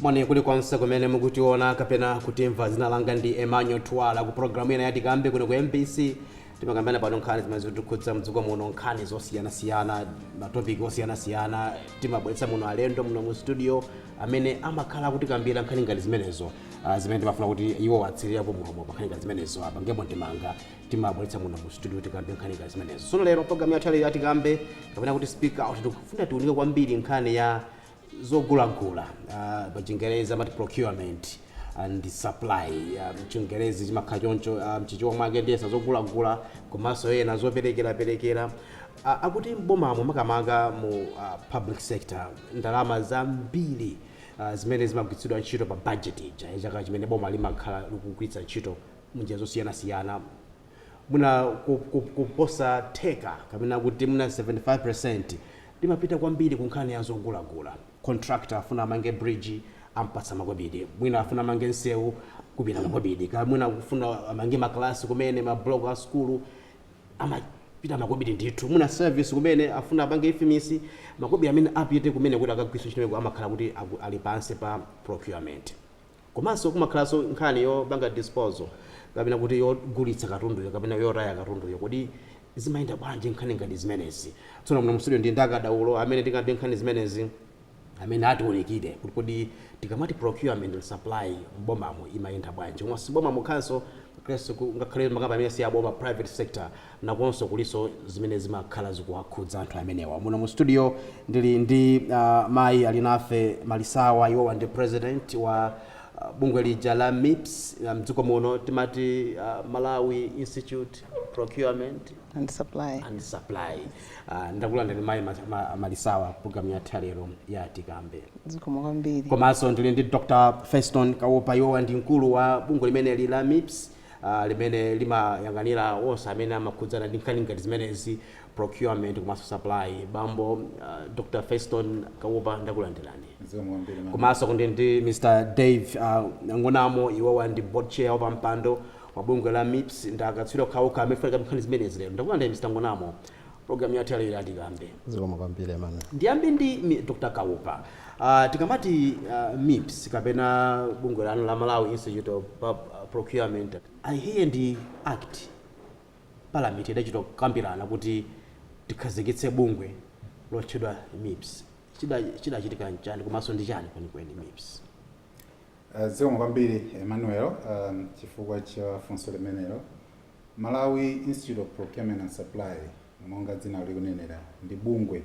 Moni kulikonse kumene mukutiona kapena kutimva. Dzina langa ndi Emmanuel Twala. Ku pulogalamu ina ya Tikambe kuno ku mbc, timakambirana pano nkhani zimene zikutikhudza m'dziko muno, nkhani zosiyanasiyana, matopiki osiyanasiyana. Timabweretsa muno alendo muno mu situdiyo amene amakhala akutikambira nkhani ngati zimenezo, ah, zimene timafuna kuti iwo atsirirapo mulomo pa nkhani ngati zimenezo, apangepo ndemanga. Timabweretsa muno mu situdiyo tikambe nkhani ngati zimenezo. Tsono lero pulogalamu yathu ya lero ya Tikambe kapena kuti Speak Out tikufuna tiunike kwambiri nkhani ya zogulagula uh, pa chingerezi amati procurement and supply uh, mchingerezi chimakhala choncho uh, mchichewa mwake ndiyesa za zogulagula komanso mwina zoperekeraperekera uh, akuti mbomamo makamaka mu uh, public sector ndalama zambiri uh, zimene zimagwiritsidwa ntchito pa budget ya chaka chimene boma limakhala likugwiritsa ntchito munjira zosiyanasiyana mwina kuposa theka kapena kuti mwina 75% limapita kwambiri ku nkhani ya zogulagula. Contractor afuna amange bridge ampatsa makobidi, mwina afuna amange nsewu kupita makobidi, kaya mwina akufuna amange makalasi kumene, ma block a sukulu amapita makobidi ndithu, mwina service kumene afuna apange ifmis makobidi amene apite kumene kuti akagwiritse ntchito amakhala kuti ali pansi pa procurement. Komanso kumakhalanso nkhani yopanga disposal kapena kuti yogulitsa katunduyo kapena yotaya katunduyo. Kodi zimayenda bwanji nkhani ngati zimenezi? Tsono muno mu studio ndili ndi akadaulo amene tikambe nkhani zimenezi amene atiunikire kuti kodi tikamati procurement and supply m'bomamu imayenda bwanji komanso si m'boma mokhanso ngakhalenso ngakhale makampani amene si aboma, private sector. nakonso kulinso zimene zimakhala zikuwakhudza anthu amenewa. Muno mu studio ndili ndi uh, mayi Alinafe Malisawa, iwowa ndi president wa uh, bungwe lija la MIPS uh, mdziko muno timati uh, Malawi Institute Procurement and supply and supply uh, ndakulandirani mayi ma, ma, Malisawa program yathu ya lero ya tikambe zikomo kwambiri komanso ndili ndi Dr. Feston Kaupa iwowa ndi mkulu wa bungwe limeneli la MIPS limene limayang'anira onse amene amakhudzana ndi nkhani ngati zimenezi, procurement komanso supply. Bambo Dr Feston Kaupa ndakulandirani. Zikomo kwambiri Emmanuel. Komanso ndili ndi Mr Dave Ng'onamo, iwowa ndi board chair, wapampando, wa bungwe la mips, ndi akatswiri okhaokha amene aunike nkhani zimenezi lero. Ndakulandirani Mr Ng'onamo. Program yathu yalero ya Tikambe. Zikomo kwambiri Emmanuel. Ndiyambe ndi mi- Dr. Kaupa. Uh, tikamati uh, MIPS kapena bungwe lanu la Malawi Institute of Pub, uh, Procurement. Aaa iyi ndi act parliament idachita kambirana kuti tikhazikitse bungwe lotchedwa MIPS. Chida- Chidachitika nchani komanso ndi chani kwenikweni MIPS? Uh, zikomo kwambiri emmanuel um, chifukwa cha funso limenelo Malawi Institute of Procurement and Supply monga dzina likunenera ndi bungwe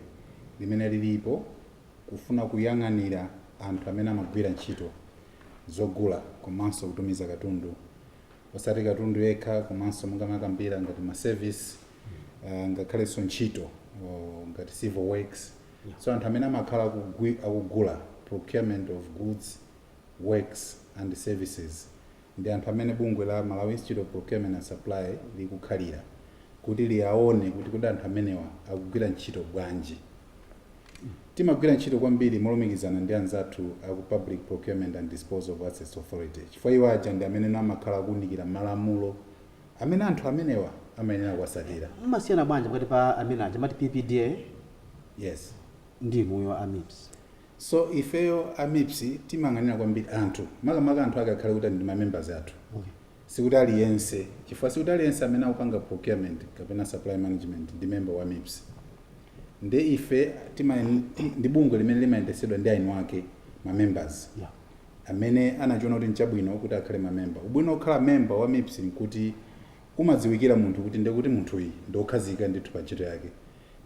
limene lilipo kufuna kuyang'anira anthu amene amagwira ntchito zogula komanso kutumiza katundu osati katundu yekha komanso monga makambira ngati ma service uh, ngakhalenso ntchito uh, ngati civil works so anthu amene amakhala akugwi- akugula procurement of goods works and services ndi anthu amene bungwe la Malawi Institute of Procurement and Supply likukhalira kuti liaone kuti kodi anthu amenewa akugwira ntchito bwanji. Timagwira ntchito kwambiri molumikizana ndi anzathu a ku Public Procurement and Disposal of Assets Authority chifukwa iwo aja ndi amene amakhala akuunikira malamulo amene anthu amenewa amayenera kuwasatira. Mumasiyana bwanji pakati pa amene aja amati PPDA Yes. ndi inuyo a MIPS? So ifeyo a MIPS timayang'anira kwambiri anthu makamaka anthu ake akhale kuti ndi ma members athu sikuti aliyense chifukwa sikuti aliyense amene akupanga procurement kapena supply management ndi member wa MIPS nde ife tima ti- ndi bungwe limene limayendetsedwa ndi aini ake ma members Yeah. amene anachiona kuti nchabwino kuti akhale ma member ubwino okhala member wa MIPS nkuti umadziwikira munthu kuti ndekuti munthuyi ndiokhazikika ndithu pa ntchito yake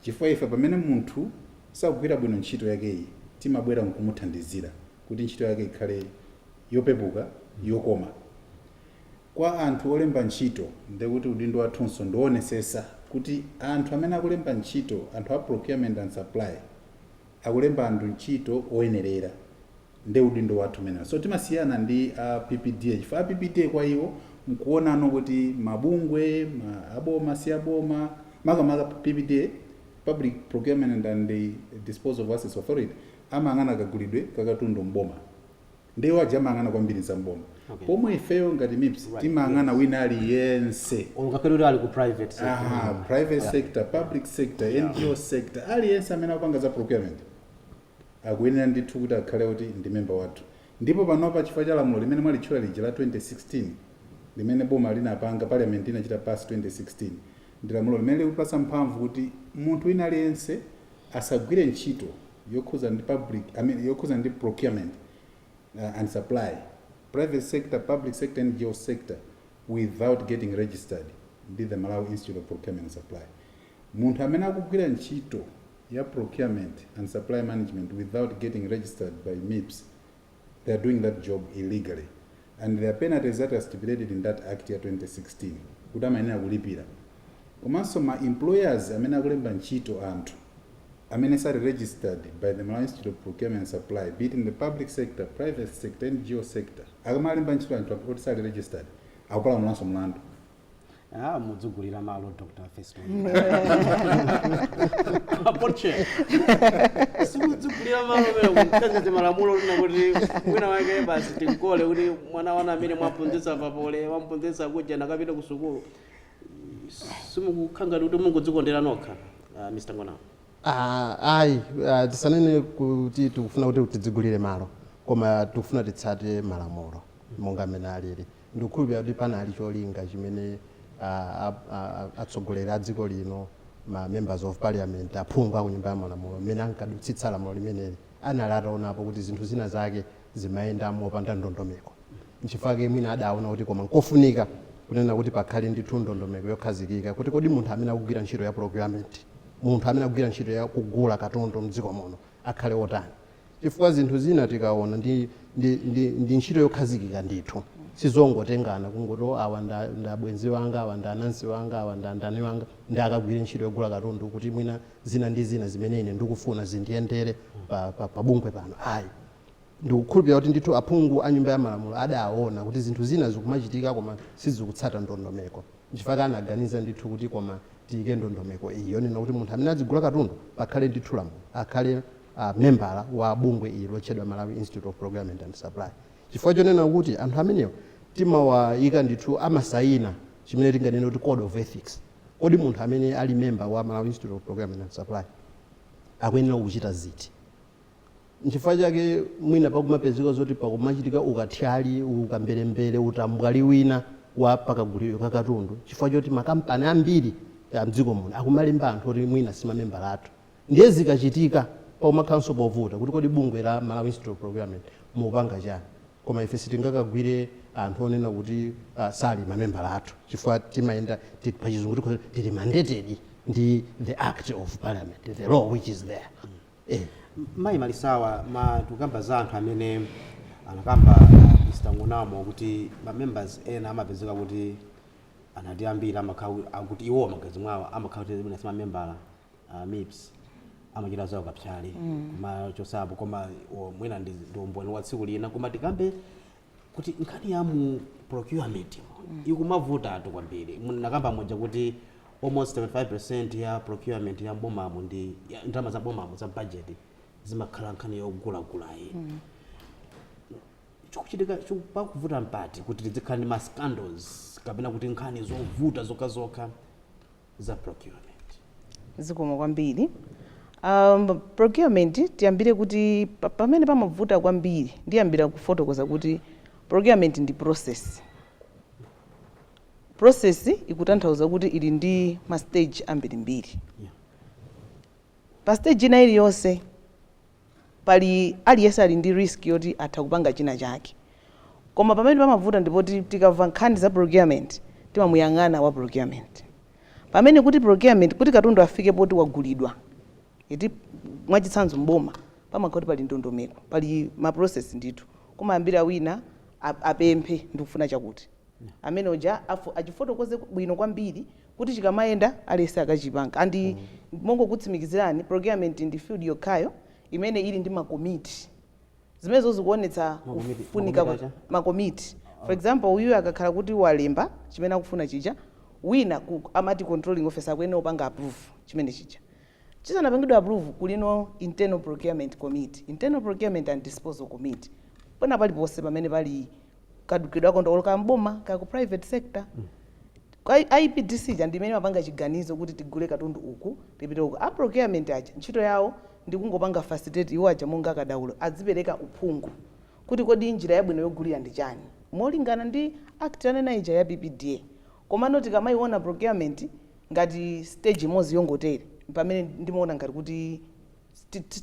chifukwa ife pamene munthu sakugwira bwino ntchito yakeyi timabwera nkumuthandizira kuti ntchito yake ikhale yopepuka, yokoma kwa anthu olemba ntchito. Ndekuti udindo wathunso ndiowonesesa kuti anthu amene akulemba ntchito anthu a Procurement and Supply akulemba anthu ntchito oyenerera. Nde udindo wathu umenewo. So timasiyana ndi a PPDA chifukwa a PPDA kwa iwo nkuonano kuti mabungwe aboma, si aboma, makamaka PPDA, Public Procurement and and Disposal of Assets Authority, amayang'ana kagulidwe ka katundu m'boma. Nde iwo aja amayang'ana kwambiri za m'boma. Okay. Pomwe ifeyo ngati MIPS Right, timayang'ana yes. wina aliyense. Or ngakhale kuti ali ku private sector. Aha, private sector, public sector, NGO sector, aliyense amene akupanga za procurement. akuyenera ndithu kuti akhale oti ndi member wathu ndipo panopa chifukwa cha lamulo limene mwalitchula lija la 2016 limene boma linapanga, parliament inachita pass 2016, ndi lamulo limene likutipatsa mphamvu kuti munthu wina aliyense asagwire ntchito yokhudzana ndi public, I mean yokhudzana ndi procurement and supply, private sector, public sector, NGO sector, without getting registered ndi the Malawi Institute of Procurement and Supply. Munthu amene akugwira ntchito. ya procurement and supply management without getting registered by MIPS they are doing that job illegally and there are penalties that are stipulated in that act ya 2016 kuti amayenera kulipira komanso ma employers amene akulemba ntchito anthu amene sali registered by the Malawi Institute of Procurement and Supply be it in the public sector private sector NGO sector akamalemba ntchito anthu akuti sali registered akupalamulanso mlandu Ah, mudzugulira malo Dr. Fesman. Apoche. Simudzugulira malo mero kutenga ti malamulo lina kuti wina wake basi tinkole kuti mwana wana amene mwaphunzitsa pa Poly, mwamphunzitsa kuja nakapita ku sukulu. Simukukhanga kuti mungodzikondera nokha. Ah, Mr. Ng'onamo. Ah, ayi ah, tisanene kuti tikufuna kuti tidzigulire malo koma tikufuna titsate malamulo monga amene alili Ndikukhulupirira kuti panali cholinga chimene a, a, a, a, atsogoleri a dziko lino, ma members of parliament, aphungu a ku Nyumba ya Malamulo, mmene ankadutsitsa lamulo limeneli, anali ataonapo kuti zinthu zina zake zimayenda mopanda ndondomeko. Nchifukwa chake mwina adaona kuti koma nkofunika kunena kuti pakhale ndithu ndondomeko yokhazikika kuti kodi munthu amene akugwira ntchito ya procurement, munthu amene akugwira ntchito ya kugula katundu m'dziko muno, akhale otani chifukwa zinthu zina tikaona ndi, ndi, ndi, ndi ntchito yokhazikika ndithu sizongotengana kungoti "Oh, awa nda, nda bwenzi wanga awa ndi anansi wanga awa ndi andani wanga nde akagwire ntchito yogula katundu kuti mwina zina ndi zina zimene ine ndikufuna zindiyendere pa, pa, pa bungwe pano ayi ndikukhulupirira kuti ndithu aphungu a nyumba ya malamulo adaona kuti zinthu zina zikumachitika koma sizikutsata ndondomeko Nchifukwa anaganiza ndithu kuti koma tiike ndondomeko iyi yonena kuti munthu amene adzigula katundu pakhale ndithu lamulo akhale membala wa bungwe ili lotchedwa Malawi Institute of Procurement and Supply chifukwa chonena kuti anthu amenewo timawaika ndithu amasaina chimene tinganene kuti code of ethics. Kodi munthu amene ali member wa Malawi Institute of Procurement and Supply akuyenera kuchita ziti? Nchifukwa chake mwina pakumapezeka zoti pakumachitika ukathyali, ukamberembere, utambwali wina wa pa kaguliro ka katundu chifukwa choti makampani ambiri a m'dziko muno akumalemba anthu oti mwina si mamembala athu. Ndiye zikachitika pakumakhalanso povuta kuti kodi bungwe la Malawi Institute of Procurement mukupanga chani? Koma ife sitingakagwire anthu onena kuti sali mamembala athu chifukwa timayenda, pachizungu tikhoza kuti tili mandated ndi the Act of Parliament, the law which is there. eh. Mayi Malisawa tikukamba za anthu amene anakamba Mr Ng'onamo kuti ma members ena amapezeka kuti anati ambiri amakhala kuti- akuti iwowo magazi mwawo amakhala kuti mwina simamembala a MIPS amachita zawo za psali kumachosapo koma o, mwina ndi ndi umboni wa tsiku lina koma tikambe kuti nkhani ya mu procurement ikumavutatu kwambiri munakamba muja kuti almost 75 percent ya procurement ya mbomamu ndi ya ndalama za bomamu za budget zimakhala nkhani yogulagulayi chikuchitika pakuvuta mpati kuti tidzikhala ndi ma scandals kapena kuti nkhani zovuta zokhazokha za procurement. Zikomo kwambiri. Um, procurement tiyambire kuti pa- pamene pamavuta kwambiri ndiyambira kufotokoza kuti procurement ndi process. Process ikutanthauza kuti ili ndi ma stage ambirimbiri. Yeah. Pa stage ina iliyonse pali aliyense ali ndi risk yoti atha kupanga china chake koma pamene pamavuta ndipoti tikamva nkhani za procurement timamuyang'ana wa procurement pamene kuti procurement kuti katundu afike poti wagulidwa eti mwachitsanzo mboma pamakhala kuti pali ndondomeko pali ma process ndithu kumayambira wina a- apemphe ndikufuna chakuti amene uja afu- achifotokoze bwino kwambiri kuti chikamayenda aliyense akachipanga and mongokutsimikizirani procurement ndi field yokhayo imene ili ndi makomiti zimenezo zikuonetsa Makomiti- kufunika makomiti kwa- acha? makomiti for example uyuyu akakhala kuti walemba chimene akufuna chija wina ku, amati controlling officer akuyenera kupanga approve chimene chija chisanapangidwe approve kulinso internal procurement committee internal procurement and disposal committee pena paliponse pamene pali kadukidwa ka ndalama ka m'boma kaya ku private sector Kwa IPDC ja ndimene amapanga chiganizo kuti tigule katundu uku tipite uku a procurement aja ntchito yawo ndikungopanga facilitate iwo aja monga akadaulo adzipereka uphungu kuti kodi njira yabwino yogulira ndi chani molingana ndi Act tanena ija ya PPDA komano tikamayiona procurement ngati stage imodzi yongotere mpamene ndimaona ngati kuti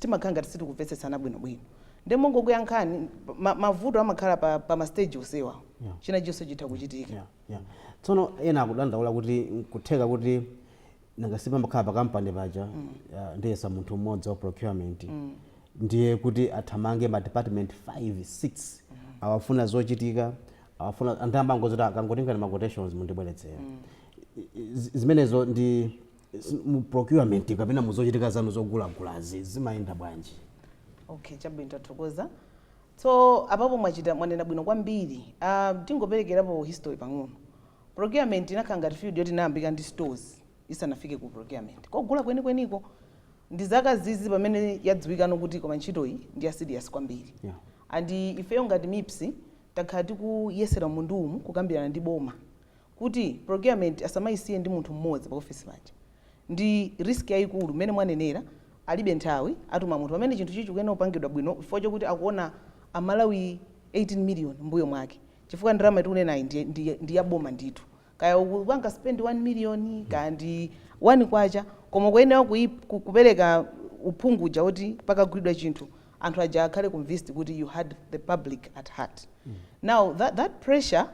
timakhala ngati sitikumvetsetsana bwinobwino nde mongokuyankhani mavuto amakhala pa pa ma stage onsewa yeah. china chilichonse chitha kuchitika yeah, yeah. tsono ena akudandaula kuti kutheka kuti nanga sipamakhala pa kampani paja mm. uh, ndiyesa pamakhala munthu mmodzi wa procurement mm. ndiye kuti athamange ma department 5 6 mm. awafuna zochitika awafuna anthu ambangozoti akangotengani ma quotations mundibweretsera mm. zimenezo ndi Mu procurement kapena muzochitika zanu zogulagulazi zimayenda bwanji? Okay, chabwino tathokoza. So apapo mwachita mwanena bwino kwambiri. Uh, tingoperekerapo history pang'ono. Procurement inakhala ngati field yoti inayambika ndi stores isanafike ku procurement. Kogula kwenikweniko ndi zaka zizi pamene yadziwikano kuti koma ntchito iyi ndi ya serious kwambiri. Yeah. And ifeyo ngati MIPS takhala tikuyesera mmundu umu kukambirana ndi boma kuti procurement asamayisiye ndi munthu mmodzi pa office paja ndi risk yayikulu mmene mwanenera alibe nthawi atuma munthu pamene chinthuchi chikuyenera kupangidwa bwino chifukwa chokuti akuona a Malawi 18 million mmbuyo mwake chifukwa ndalama tikunenayi ndi, ndi, ndi ya boma ndithu kaya ukupanga spend 1 million kaya ndi 1 kwacha koma kuyenera kuyi- ku- kupereka uphungu uja woti pakagulidwa chinthu anthu aja akhale convinced kuti you had the public at heart now that, that pressure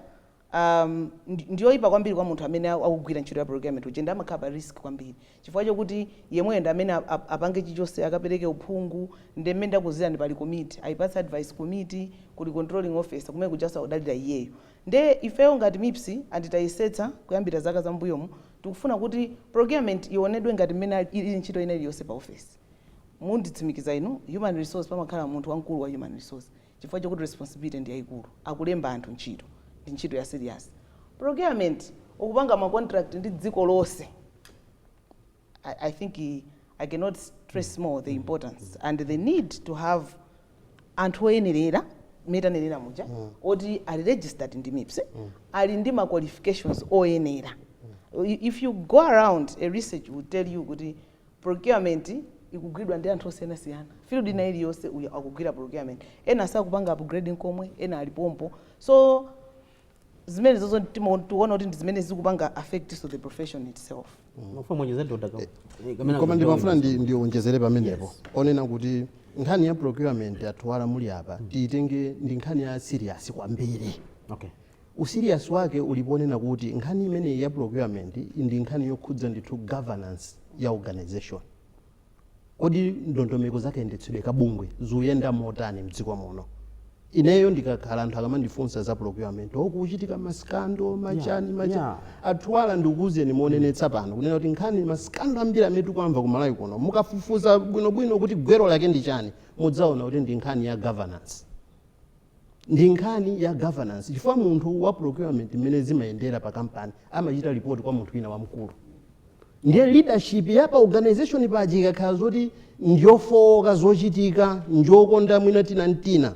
Am, ndi, ndi yoyipa kwambiri kwa munthu amene a- akugwira ntchito ya procurement uja ndi amakhala pa risk kwambiri chifukwa chokuti yemweyo ndi amene ap- ap- apange chilichonse akapereke uphungu ndi mmene ndakuuzirani pali komiti ayipatse advice komiti kuli controlling officer kumene kujanso akudalira iyeyo nde ifeyo ngati mips and tayesetsa kuyambira zaka za mbuyomu tikufuna kuti procurement ionedwe ngati mmene ali- ili ntchito ina iliyonse pa office munditsimikiza inu human resource pamakhala munthu wamkulu wa human resource chifukwa chokuti responsibility ndi yaikulu akulemba anthu ntchito ndi ntchito ya serious procurement ukupanga ma contract ndi dziko lonse I, I think i I cannot stress more the importance and the need to have anthu oyenerera mmene tanenera muja oti ali registered ndi mips ali ndi ma qualifications oyenera I- if you go around a research will tell you kuti Procurement ikugwidwa ndi anthu osiyanasiyana. Field ina iliyonse uyo akugwira procurement. Ena sakupanga upgrade nkomwe, ena ali pompo. So zimenezozo timo- tikuona kuti ndi zimene zikupanga affectinso the profession itself. Mufuna muonjeze Doctor Kaupa. Eh, kamena koma ndimafuna ndi- kuonjeza. ndionjezere pamenepo Yes. onena kuti nkhani ya procurement a Thuwala muli apa tiitenge ndi nkhani ya serious kwambiri Okay. Userious wake uli ponena kuti nkhani imeneyi ya procurement ndi nkhani yokhudza ndithu governance ya organisation. Kodi ndondomeko za kayendetsedwe ka bungwe zuyenda motani mdziko muno? Ineyo ndikakhala anthu akamandifunsa za procurement, oh kukuchitika ma scandal, ma chani, ma chani. A Thuwala ndikuuzeni monenetsa pano kunena kuti nkhani, ma scandal ambiri amene tikuwamva ku Malawi kuno, mukafufuza bwinobwino kuti gwero lake ndi chani, mudzaona kuti ndi nkhani ya governance. ndi nkhani ya governance chifukwa munthu wa procurement mmene zimayendera pa kampani amachita report kwa munthu wina wamkulu ndiye leadership ya pa organization paja ikakhala zoti njofooka zochitika njokonda mwina tina ntina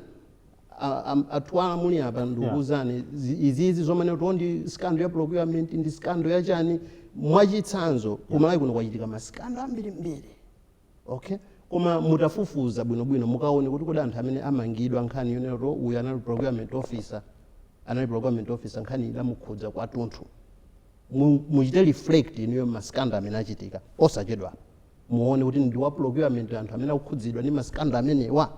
A- am- a Thuwala muli apa ndikuwuzani zi- izizi zomanena kuti ndi scandal ya procurement ndi scandal ya chani mwachitsanzo ku Malawi kuno kwachitika ma scandal ambirimbiri okay koma mutafufuza bwinobwino mukaone kuti kodi anthu amene amangidwa nkhani yonena kuti uyu anali procurement officer anali procurement officer nkhani idamukhudza kwatunthu Mu- muchite reflect inuyo ma scandal amene achitika osachedwa muone kuti ndi wa procurement anthu amene akukhudzidwa ndi ma scandal amenewa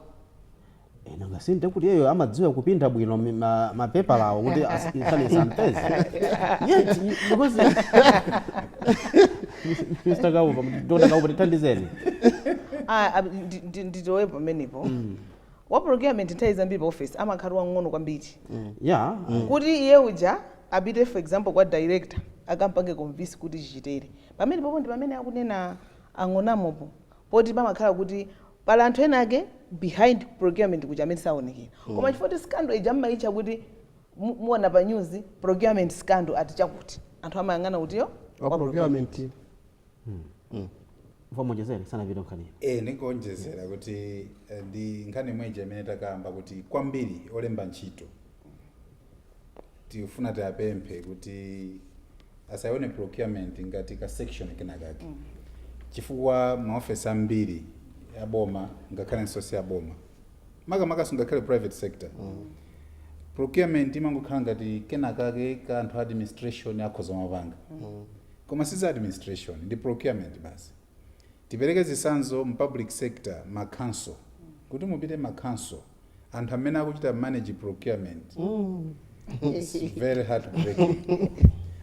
nanga si nde kuti iyeyo amadziwa kupinda bwino mi- ma- mapepalawo kuti as- nkhani isampeze yet because mr kaupa doctor kaupa tithandizeni Ah, ah, ndi- ndi- ndilowe pamenepo wa procurement nthawi zambiri pa office amakhala wang'ono kwambiri ya kuti iye uja apite for example kwa director akampange convince kuti chichitere pamenepopo ndi pamene akunena a Ng'onamopo poti pamakhala kuti Pali anthu enaake behind ku procurement kuja amene saonekera koma chifukwa choti scandal ija mumaitcha kuti mu- muona pa news procurement scandal ati chakuti anthu amayang'ana kuti iyo ya procurement Mfumu onjezerani sanapita nkhaniyo e nikuonjezera kuti eh, ndi nkhani imweja imene takamba kuti kwambiri olemba ntchito tikufuna tiwapemphe kuti asayione procurement ngati ka section kenakake mm. chifukwa maofesi ambiri aboma ngakhale si aboma makamakanso ngakhale private sector mm. procurement imangokhala ngati kenakake koti anthu a administration akhoza kumapanga mm. koma siza administration ndi procurement basi tipereke zisanzo mu public sector ma council kuti mupite ma council anthu amene akuchita manage procurement it's very heartbreaking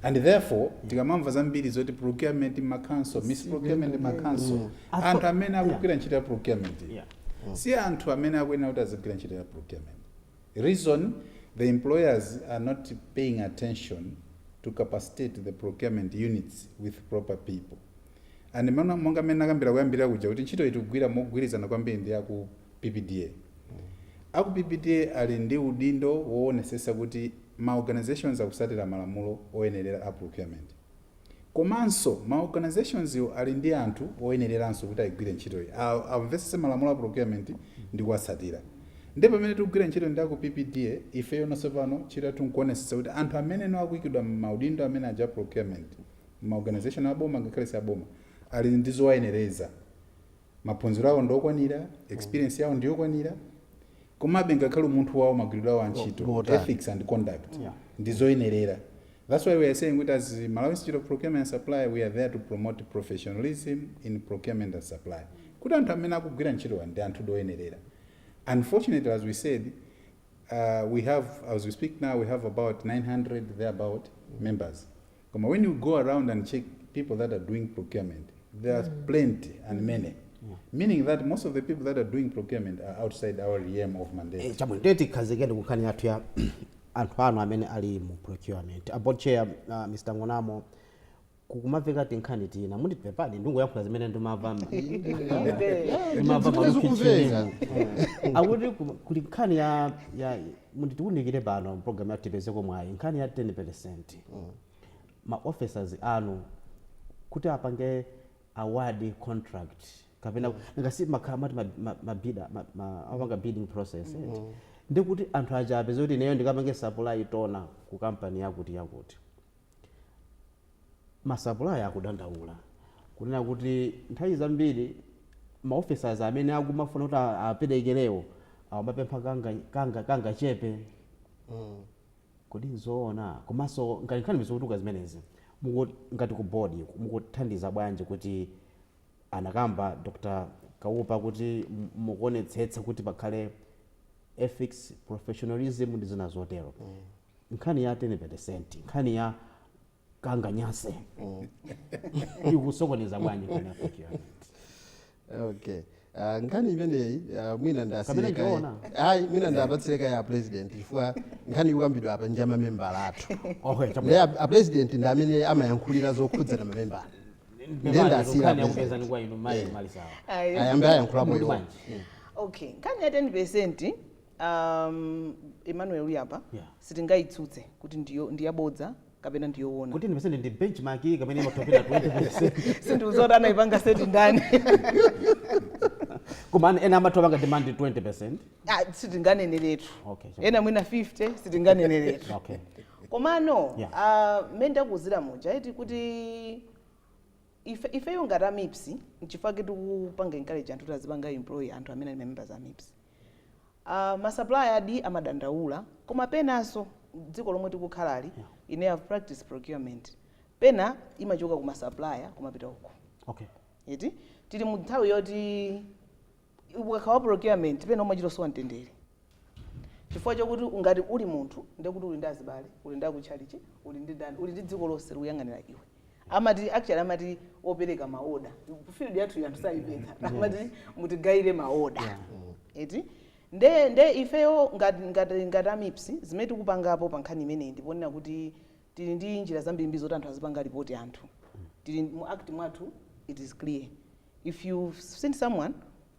and therefore tikamamva zambiri zoti procurement ma council misprocurement ma council Atho- anthu amene yeah. akugwira ntchito ya procurement Yeah. si anthu amene akuyenera kuti azigwira ntchito ya procurement reason the employers are not paying attention to capacitate the procurement units with proper people and mana- monga mmene nakambira koyambirira kuja kuti ntchito iyi tikugwira mogwirizana kwambiri ndi aku PPDA. Aku PPDA ali ndi udindo wowonesesa kuti ma organizations akusatira malamulo oyenerera a procurement. Komanso ma organizationswo ali ndi anthu oyenereranso kuti ayigwire ntchitoyi. Amvesese malamulo a procurement ndi kuwatsatira. Nde pamene tikugwira ntchito ndi aku PPDA, ifeyono pano ntchito yathu nkuwonesesa kuti anthu amene akuyikidwa mmaudindo amene aja a procurement, mma organization a boma ngakhale si aboma, ali ndi zowayenereza. maphunziro awo ndi okwanira experience yawo ndi yokwanira komabe ngakhale umunthu wawo magwiridwe awo a ntchito ethics and conduct Yeah. ndi zoyenerera that's why we are saying kuti as malawi institute of procurement and supply we are there to promote professionalism in procurement and supply kuti anthu amene akugwira ntchitowa ndi anthu oyenerera unfortunately as we said uh, we have as we speak now we have about 900 thereabout members When you go around and check people that are doing procurement, there are mm. plenty and mm. many. Mm. Meaning that most of the people that are doing procurement are outside our realm of mandate. Eh, chabwino, tikhazikike ku nkhani yathu ya anthu anu amene ali mu procurement. Board chair, uh, Mr. Ng'onamo, kukumaveka tinkhani tina munditi pepani ndingoyankhula zimene ndimava ndimava akuti kuli nkhani ya, ya Mutiunikire pano m'programu yathu tipezeko mwayi. Nkhani ya 10 percent, ma officers anu kuti apange award contract kapena, nanga si mumakhala mwati ma ma ma bidder ma ma amapanga bidding process eti, ndiye kuti anthu aja apeze kuti ineyo ndikapange supply toner ku kampani yakuti yakuti. Masapulaya akudandaula kunena kuti nthawi zambiri ma officers amene akumafuna kuti aperekerewo amapempha kangachepe. Kodi nzoona? Komanso ngati nkhani zikutuluka zimenezi, ngati ku board mukuthandiza bwanji kuti anakamba Dr Kaupa kuti mukuonetsetsa kuti pakhale ethics, professionalism ndi zina zotero. nkhani ya tene peresenti nkhani ya kanganyase ikusokoneza bwanji nkhani ya procurement okay Ah, nkhani imeneyi ah, mwina Kapena ikiona? ayi mwina ndipatsire kaye a president chifukwa nkhani ikukambidwa apa nja mamembala athu okay ndi chabwino a- a president ndi amene amayankhulira zokhudzana mamembala Nde nda nde ndawasiira nkhani a president. tikupezani kwa inu mayi malisawa Ayi. ayambe ayankhulapo Mukuti iwo bwanji? okay nkhani ya 10 percent um, emmanuel uyu apa Yeah. sitingayitsutse kuti ndiyo- ndiyabodza kapena ndiyowona kuti 10 percent ndi benchmark iyi kapena imapyolera 20 sindidziwa kuti anayipanga seti ndani koma ana- ena amatha kupanga demand 20 percent Ah, sitinganeneretu Okay, sure. ena mwina 50 sitinganeneretu okay komano Yeah. ah, mmene ndakuuzira muja eti kuti ife- ifeyo ngati a mipsi nchifukwa kuti tikupanga encourage anthu kuti azipanga employ anthu amene ali members a mipsi Uh, ma supplier adi amadandaula koma penanso dziko lomwe tikukhalali yeah. ine I've practiced procurement pena imachoka ku ma supplier kumapita uko okay. eti tili mu nthawi yoti ukakhala wa procurement pena umachita kusowa mtendere chifukwa chokuti ngati uli munthu ndekuti uli ndi azibale uli ndi akutchalichi uli ndi ndani uli ndi dziko lonse likuyang'anira iwe amati actually amati opereka ma order field yathu anthu sayipeza amati mutigayire ma order Yeah. eti nde nde ifeyo ngati ngati ngati a mipsi zimene tikupangapo pa nkhani imeneyi ndi ponena kuti tili ndi njira zambirimbiri zoti anthu azipanga ripoti anthu tili mu act mwathu it is clear if you've seen someone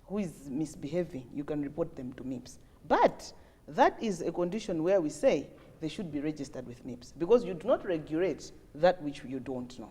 who is misbehaving you can report them to mips but that is a condition where we say they should be registered with mips because you do not regulate that which you don't know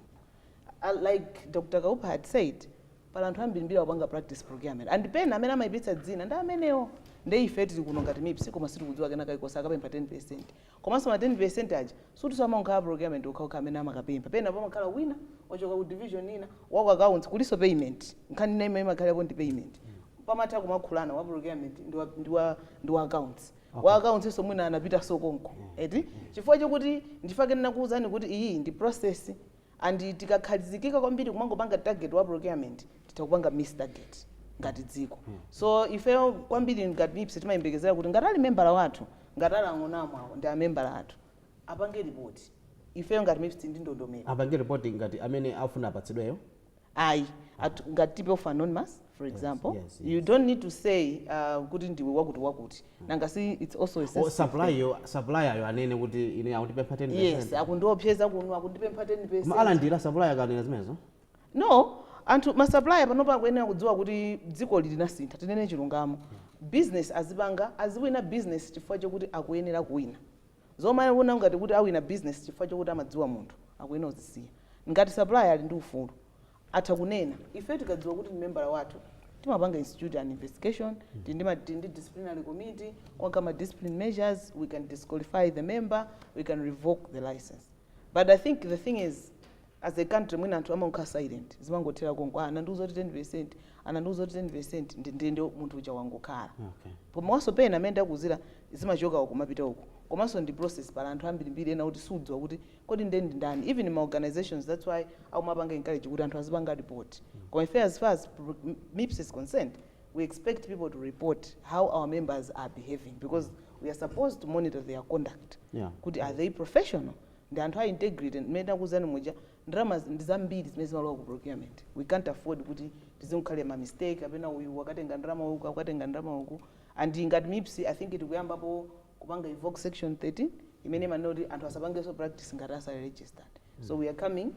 uh, like dr kaupa had said pali anthu ambirimbiri akupanga practice procurement and pena amene amayipitsa dzina ndi amenewo nde ife tili kuno ngati mips koma sitikudziwa kenaka iwo akapempha 10 percent Komanso ma 10% aja sikuti amangokhala a procurement okhaokha amene amakapempha, pena pamakhala wina wachoka ku division ina, wa ku accounts, kulinso payment, nkhani ina imene imakhalapo ndi payment, pamatha kumalankhulana wa procurement ndi wa, ndi wa, ndi wa accounts, wa accounts nso mwina anapitanso konko, eti chifukwa chokuti, nchifukwa chake ndinakuuzani kuti iyi ndi process. And tikakhazikika kwambiri kumangopanga target wa procurement titha kupanga miss target ngati dziko. So ifeyo kwambiri ngati MIPS timayembekezera kuti ngati ali membala wathu, ngati ali ang'onamu awo ndi amembala athu, apange report. Ifeyo ngati MIPS ndi ndondomeko. apange report ngati amene afuna apatsidweyo ayi at, ngati Tip-offs Anonymous for example yes, yes, yes. you don't need to say uh, kuti ndiwe wakuti wakuti mm. nanga si it's also a oh, supplier yo supplier yo anene kuti ine akundipempha 10% yes akundiopseza kuno akundipempha 10% ma alandira supplier akanena zimenezo no anthu ma supplier panopa akuyenera kudziwa kuti dzikoli linasintha tinene chilungamo mm. business azipanga aziwina business chifukwa chokuti akuyenera kuwina Zomaona ngati kuti awina business chifukwa chokuti amadziwa munthu akuyenera kuzisiya. Ngati supplier ali ndi ufulu atha kunena. Ifeyo tikadziwa kuti ndi membala wathu timapanga institute an investigation, tili ndi ma tili ndi disciplinary committee, kuwagama discipline measures, we can disqualify the member, we can revoke the licence. but i think the thing is as a country mwina anthu amangokhala silent zimangothera konko ah, anandiuza kuti 10 percent anandiuza kuti 10 percent ndiyeno munthu uja wangokhala okay. komanso pena mmene ndakuuzira zimachoka uku kumapita uku komanso ndi process pali anthu ambirimbiri ena kuti sudziwa kuti kodi nde ndi ndani even ma organizations that's why akumapanga encourage kuti anthu azipanga report koma ife as far as pro- m- mips is concerned we expect people to report how our members are behaving because we are supposed to monitor their conduct Yeah. kuti are they professional ndi anthu a integrity mmene ndakuuzani muja ndalama ndi zambiri zimene zimalowa ku procurement we can't afford kuti tizingokhala ma mistake kapena uyu wakatenga ndalama uku akatenga ndalama uku and ngati mips i think tikuyambapo kupanga evoke section 13 imene imanena kuti anthu asapangenso practice ngati asali registered so we are coming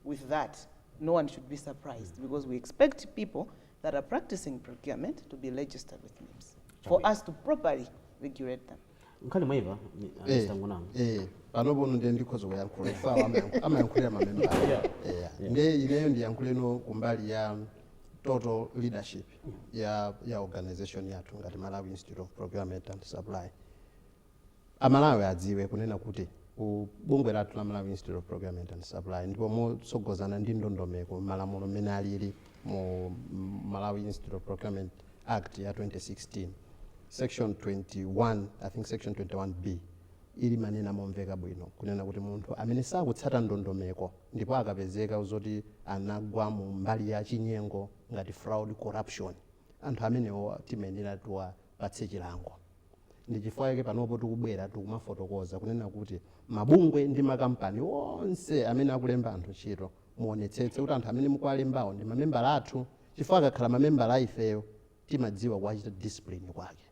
with that no one should be surprised because we expect people that are practicing procurement to be registered with MIPS for us to properly regulate them. nkhani mwaimva Eh, tangonanga eh, panopano ndiye ndikhoza kuyankhula ife awo amayank- amayankhulira mamembala Yeah. Eh, ndiye ineyo ndiyankhuleno kumbali ya total leadership ya, ya organization yathu ngati malawi institute of procurement and supply a Malawi adziwe kunena kuti ku bungwe lathu la Malawi Institute of Procurement and Supply ndipo motsogozana ndi ndondomeko malamulo mmene alili mu Malawi Institute of Procurement Act ya 2016 section 21 I think section 21B limanena momveka bwino kunena kuti munthu amene sakutsata ndondomeko ndipo akapezeka zoti anagwa mu mbali ya chinyengo ngati fraud corruption anthu amenewo timayenera tiwa patse chilango. Ndi chifukwa chake panopo tikubwera tikumafotokoza kunena kuti mabungwe ndi makampani onse amene akulemba anthu ntchito muonetsetse kuti anthu amene mukuwalembawo ndi mamembala athu chifukwa akakhala mamembala a ifeyo timadziwa kuwachita discipline kwake.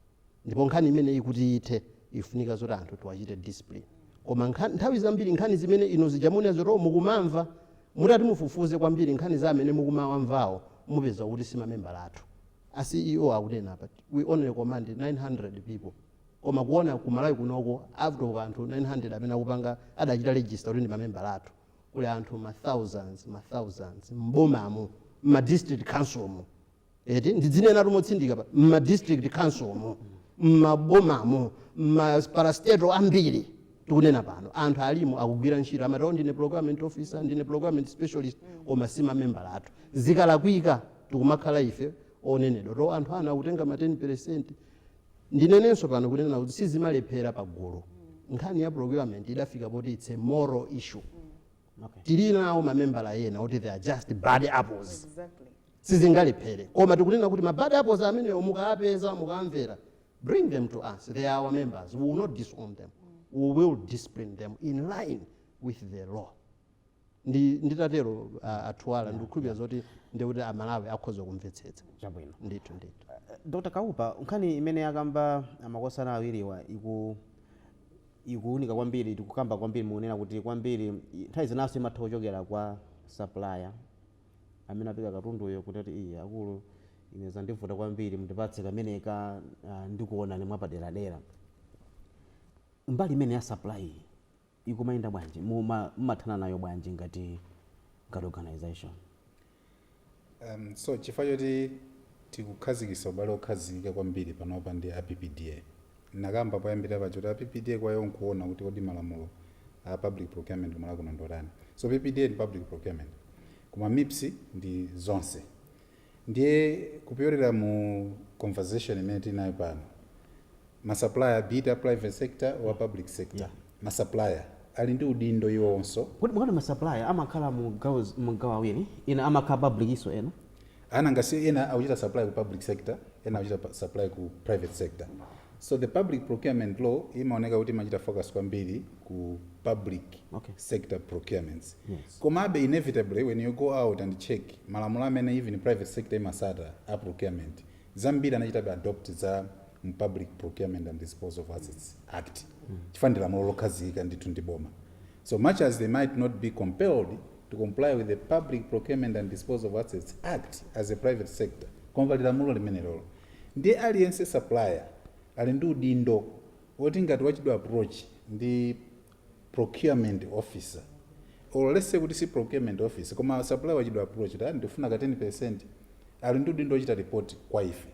Ndipo nkhani imeneyi kuti ithe ifunika zoti anthu tiwachite discipline. Koma nkhan, nthawi zambiri nkhani zimene inu zija muonera zoti oh, mukumamva mutati mufufuze kwambiri nkhani za amene mukumawamvawo mupeza kuti si mamembala athu. A CEO akunena apa we only command 900 people koma kuona ku Malawi kunoko out of anthu 900 amene akupanga adachita register kuti ndi mamembala athu kuli anthu ma thousands ma thousands m'bomamu m'ma district council mu eti ndidzinenatu motsindika apa m'ma district council mu m'mabomamu m'ma parastatal ambiri tikunena pano anthu alimo akugwira ntchito amati "Oh, ndine procurement officer ndine procurement specialist koma si mamembala athu zikalakwika tikumakhala ife onenedwa to anthu ana akutenga ma 10 percent ndinenenso pano kunena kuti sizimalephera pa gulu nkhani ya procurement idafika poti it's a moral issue Okay. tili nawo mamembala ena oti they are just bad apples Exactly. sizingalephere koma tikunena kuti ma bad apples amenewo mukapeza mukamvera bring them to us they are our members we will not disown them we will discipline them in line with the law ndi nditatero a, Athuwala ndikukhulupirira zoti ndiye kuti a Malawi akhoza kumvetsetsa chabwino ndithu ndithu dr kaupa nkhani imene akamba makosana awiriwa iku ikuunika kwambiri tikukamba kwambiri mukunena kuti kwambiri i- nthawi zinanso imatha kuchokera kwa supplier amene apereka katunduyo kuti ati iyi akulu ine zandivuta kwambiri mundipatse kameneka ah, ndikuonani mwapaderadera mbali imeneyi ya supply iyi ikumayenda bwanji? Muma mumathana nayo bwanji ngati ngati organization? Um, so chifukwa choti tikukhazikitsa ubale okhazikika kwambiri panopa ndi a PPDA. Nakamba poyambirira paja kuti a PPDA kwa iwo nkuona kuti kodi malamulo a public procurement ku Malawi kuno ndiotani. So PPDA ndi public procurement. Koma MIPS ndi zonse. Ndiye kupyolera mu conversation imene tinayo pano, ma supplier be it a private sector or a public sector, Yeah. ma supplier ali ndi udindo iwonso. Kuti mukati ma supplier amakhala mu gawo zi- mu gawo awiri, ena amakhala public inso ena? A nanga si ena akuchita supply ku public sector, ena akuchita pa- supply ku private sector. So the public procurement law imaoneka kuti imachita focus kwambiri ku public okay. sector procurements yes. Komabe inevitably when you go out and check malamulo amene even private sector imasata a procurement zambiri anachitabe adopt za public procurement and disposal of assets act mm. chifukwa ndi lamulo lokhazikika ndithu ndi boma so much as they might not be compelled to comply with the public procurement and disposal of assets act as a private sector koma pali lamulo limenelolo Ndiye aliyense supplier ali ndi udindo oti ngati wachidwa approach ndi procurement officer or let's say kuti si procurement officer koma supplier wachidwa approach kuti ah ndikufuna ka 10% ali ndi udindo ochita report kwa ife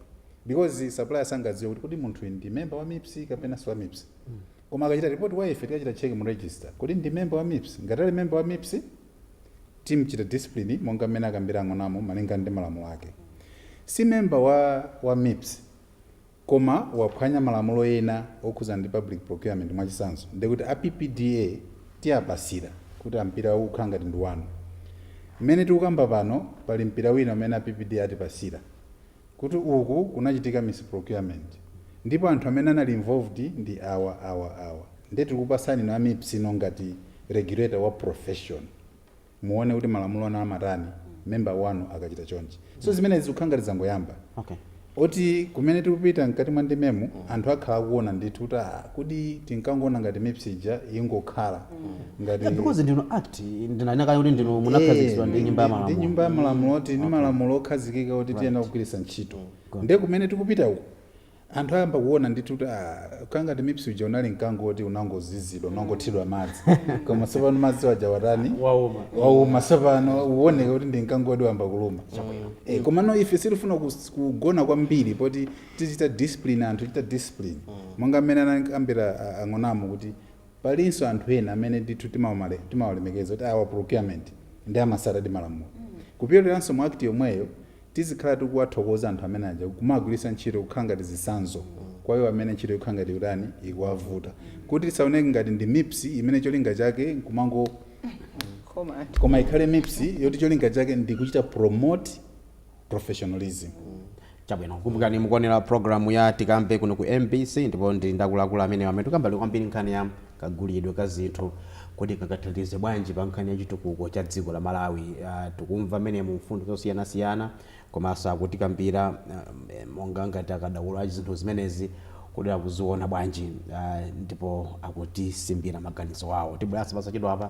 because supplier sangadziwe kuti kodi munthuyu ndi member wa MIPS kapena si wa MIPS koma akachita report kwa ife tikachita check mu register kodi ndi member wa MIPS ngati ali member wa MIPS Timchita discipline monga mmene akambira a Ng'onamo malinga ndi malamulo ake. Si member wa wa mips koma waphwanya malamulo ena okhudzana ndi public procurement mwachitsanzo ndekuti a PPDA tiapasira kuti mpirawu ukukhala ngati ndi wanu. Mmene tikukamba pano pali mpira wina umene a PPDA atipasira kuti uku kunachitika misprocurement ndipo anthu amene anali involved ndi awa awa awa ndiye tikupatsani inu a MIPS inu ngati regulator wa profession muone kuti malamulo anu amatani member wanu akachita chonchi so zimenezi zikukhala ngati zangoyamba okay oti kumene tikupita mkati mwa ndimemu anthu akhala akuona ndithu kuti ah, kodi tinkangoona ngati mips ija ingokhala ngati Yeah, because ndi mu act ndinanena kale kuti inu munakhazikitsidwa ndi nyumba ya ndi malamulo nyumba ya malamulo oti ni malamulo okhazikika oti tiyenera kugwiritsa ntchito nde kumene tikupita uku anthu ayamba kuona ndithu kuti ah, kangati MIPS uja unali mkango woti unangoziziritsidwa unangothidwa madzi koma tsopano madzi waja watani wauma wauma tsopano uoneka kuti ndi mkango woti wayamba kuluma Eh, komano ife sitifuna kus- kugona kwambiri poti tichita discipline anthu tichita discipline monga mmene anakambira ah, a Ng'onamo kuti Palinso anthu ena amene ndithu timawamale, timawalemekeza kuti awa procurement nde amatsatadi malamulo. Kupyoleranso mu act yomweyo tizikhala tikuwathokoza anthu amene aja kumawagwiritsa ntchito kukhala ngati zitsanzo kwa iwo amene ntchito ikukhala ngati ikutani, ikuwavuta. Kuti tisaoneke ngati ndi mips imene cholinga chake nkumangokhoma anthu. Koma ikhale mips yoti cholinga chake ndi kuchita promote, professionalism. Chabwino. Kumbukani mukuonera programu ya Tikambe kuno ku mbc ndipo ndili ndi akuluakulu amenewa amene tikukamba kwambiri nkhani ya kagulidwe ka zinthu kuti kangathandize bwanji pa nkhani ya chitukuko cha dziko la Malawi. Ah, Tikumva mmenemu mfundo zosiyanasiyana komanso akutikambira ah, eh, monga ngati akadaulo a zinthu zimenezi kuti akuziona bwanji ah, ndipo akutisimbira maganizo awo. Tibweranso posachedwapa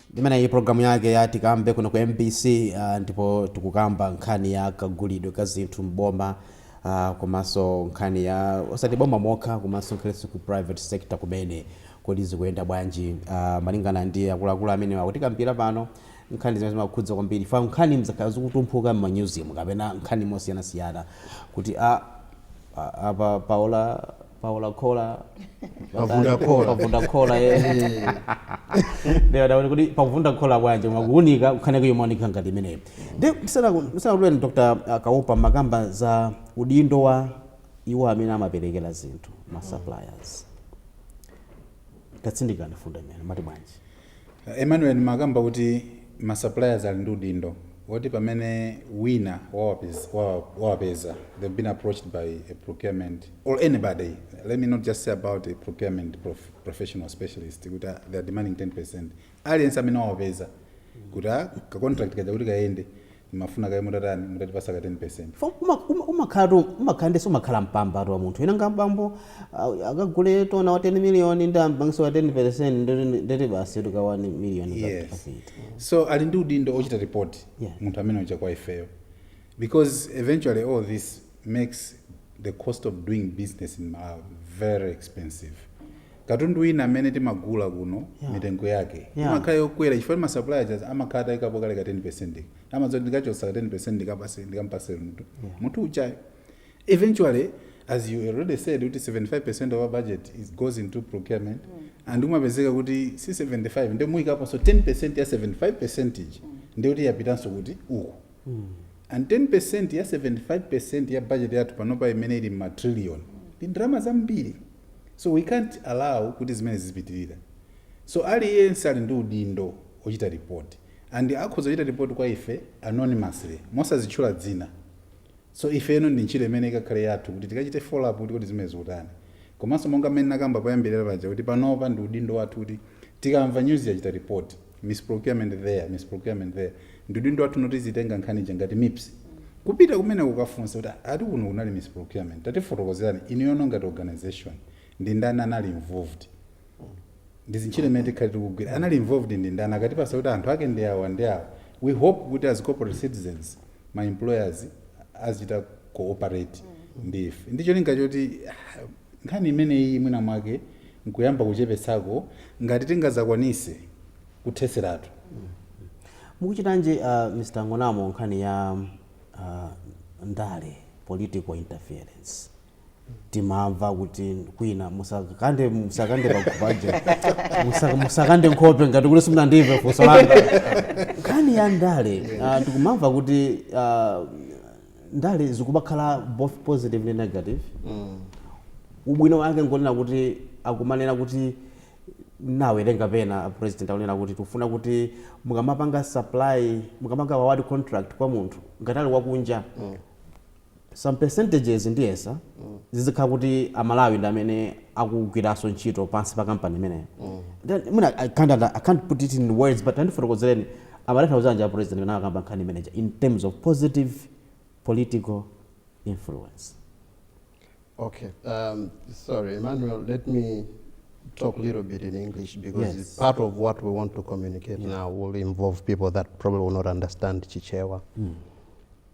Imeneyi programu yake ya tikambe kuno ku mbc ndipo tikukamba nkhani ya kagulidwe ka zinthu m'boma komanso nkhani ya osati boma mokha komanso ngakhalenso ku private sector kumene kodi zikuyenda bwanji malingana ndi akuluakulu amenewa akutikambira pano nkhani zimene zimakhudza kwambiri fa nkhani zimakhala zikutumphuka m'manyuzimu kapena nkhani mosiyanasiyana kuti a apa paola paola khola pavunda khola. pavunda khola eh. nde taona kuti pavunda khola bwanji koma kuunika kukhaneke yomaoneka ngati imeneyo ndisanakutuleni dr kaopa mmakamba za udindo wa iwo amene amaperekera zinthu ma suppliers tatsindikani mfundo imeneyo mati bwanji A Emmanuel nimakamba kuti ma suppliers ali ndi udindo oti pamene wina wawapeza they've been approached by a procurement or anybody let me not just say about a procurement professional specialist kuti they're demanding 10% aliyense amene wawapeza kuti ka contract kaja kuti kayende mafuna kaye mutatani, mutatipatsa ka 10%. Fo uma uma umakhala tu umakhala nde sumakhala mpamba tu wa munthu wina nga bambo ah, akagule tona wa 10 million ndi ampangitse wa 10% ndeti ndeti basi atuluka 1 million ka- Yes. kafiti. So ali ndi udindo ochita report Yeah. munthu amene uja kwa ifeyo. Because eventually all this makes the cost of doing business in Malawi very expensive. Katundu wina amene timagula kuno Yeah. mitengo yake Yeah. imakhala yokwera chifukwa masupplier aja amakhala atayikapo kale ka 10 amadziwa kuti ndikachotsa ka 10 ndikapatse ndikampatse munthu Yeah. munthu ujayo eventually as you already said kuti 75 of our budget is goes into procurement and umapezeka kuti si 75 nde muyikaponso 10 ya 75 ija ndikuti yapitanso kuti uku And 10% ya 75% ya budget yathu panopa imene ili m'ma trillion ndi ndalama zambiri. So we can't allow kuti zimene zizipitirira. So aliyense ali ndi udindo ochita report and akhoza kuchita report kwa ife anonymously mosadzitchula dzina. So ifeno ndi ntchito imene ikakhale yathu kuti tikachite follow up kuti kodi zimenezi zikutheka bwanji. Komanso monga mmene ndinakamba poyambirira paja kuti panopa ndi udindo wathu kuti tikamva news yachita report, misprocurement there, misprocurement there, ndi udindo wathu no tizitenga nkhani ija ngati mips kupita kumeneko kukafunsa kuti ati kuno kunali misprocurement tatifotokozerani inuyono ngati organisation ndi ndani anali involved. ndi ntchito imene tikhale tikugwira anali involved ndi ndani akatipatsa kuti anthu ake ndi awa ndi awa we hope kuti as corporate citizens ma employers azichita cooperate ndi ife ndi cholinga choti ah, nkhani imeneyi mwina mwake nkuyamba kuchepetsako ngati sitingadzakwanitse kutheseratu mukuchitanji uh, mr ng'onamo nkhani ya uh, ndale political interference timamva kuti kwina musakande musakande paja Musa- musakande nkhope ngati kuti simunandimve funso langa nkhani ya ndale ah, tikumamva kuti ah, ndale zikumakhala both positive ndi negative ubwino wake ngonena kuti akumanena kuti nawerenga pena president akunena kuti tikufuna kuti mukamapanga supply mukamapanga award contract kwa munthu ngati ali wakunja some percentages ndiyesa zizikhala kuti amalawi ndi amene akugwiranso ntchito pansi pa kampani imeneyo Then, mwina I can't, under- I can't put it in words but andifotokozereni amatanthauzanji a president amene akamakamba nkhani imeneja in terms of positive political influence Okay. Um, sorry, Emmanuel, let me talk a little bit in English because Yes. it's part of what we want to communicate now will involve people that probably will not understand Chichewa.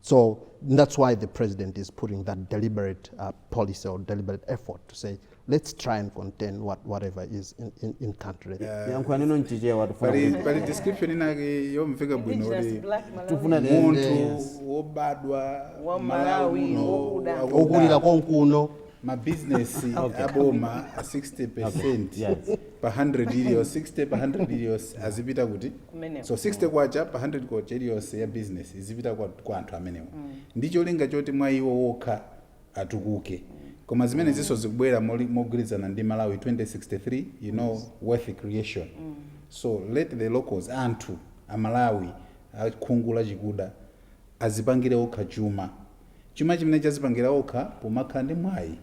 So that's why the president is putting that deliberate uh, policy or deliberate effort to say, let's try and contain what, whatever is in, in, in country. yankho anene mchichewa tufuna pali kuti- pali description inake yomveka bwino Indigenous kuti black Malawian. tufuna tiende- munthu wobadwa ku Malawi, muno, wokuda. wakuda, okulira konkuno mabizinesi aboma 60 percent Yes. pa 100 iliyonse 60 pa 100 iliyonse azipita kuti Kumeneko. so 60 kwacha pa 100 kwacha iliyonse ya business izipita kwa, kwa anthu amenewo ndi cholinga choti mwa iwo wokha atukuke koma zimenezinso zikubwera moli- mogwirizana ndi malawi 2063 you know wealth creation so let the locals anthu amalawi akhungu lachikuda azipangire okha chuma chuma chimene chazipangira okha pomakhala ndi mwayi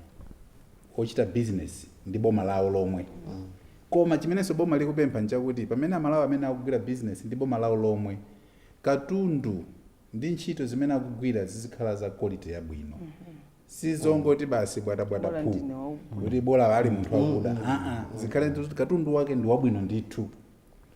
ochita bizinesi ndi boma lawo lomwe. Koma chimenenso boma likupempha n'chakuti pamene Amalawi amene akugwira bizinesi ndi boma lawo lomwe, katundu ndi ntchito zimene akugwira zizikhala za quality yabwino. Si zongoti basi bwatabwata Bola phuu, ndine wakuda. kuti bola ali munthu wakuda. Aa, zikhale kuti katundu wake ndi wabwino ndithu.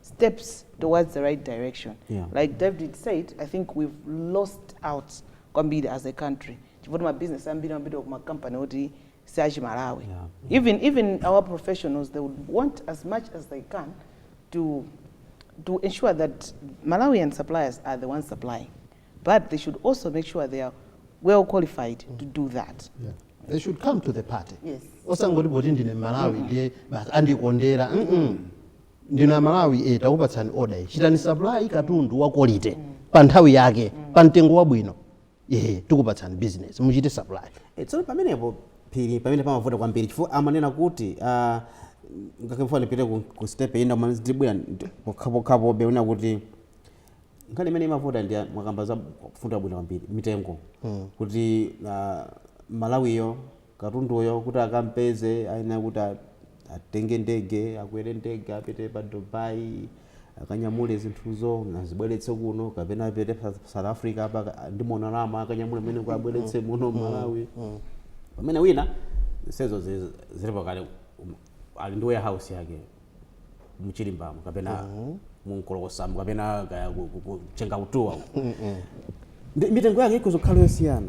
steps towards the right direction yeah. like david said i think we've lost out kwambiri as a country chifukwa kuti mabizinesi ambiri ambiri kumakampani oti si achimalawi yeah. even, even our professionals they would want as much as they can to, to ensure that malawian suppliers are the ones supplying but they should also make sure they are well qualified mm. to do that yeah. they should come to the party osangoti yes. poti ndine malawi mm -hmm. ndiye basi andikondera mm -mm. ndinu amalawi e takupatsani oda iyi chitani supply katundu wa quality pa nthawi yake pa mtengo wabwino ehe tikupatsani business muchite supply Eh, tsono pamenepo phiri pamene pamavuta kwambiri chifukwa amanena kuti ah, ngakhale ndisanapite ku, ku step ina koma ndibwera ndi- pokhapokhapobe kunena kuti nkhani imene imavuta ndi ya- mwakamba za kufunika bwino kwambiri mitengo kuti ah, mmalawiyo katunduyo kuti akampeze ayenera kuti atenge ndege, akwere ndege apite pa Dubai, akanyamule zinthuzo azibweretse kuno kapena apite pa South Africa apa ndi Monalama akanyamule mmeneku abweretse muno Malawi. Pamene wina zonsezo zi- zilipo kale um, ali ndi warehouse yake mchilimbamo kapena munkolokosamu kapena kaya ku- ku- ku- chenga utuwa uko. Ndi- mitengo yake ikudzakhala yosiyana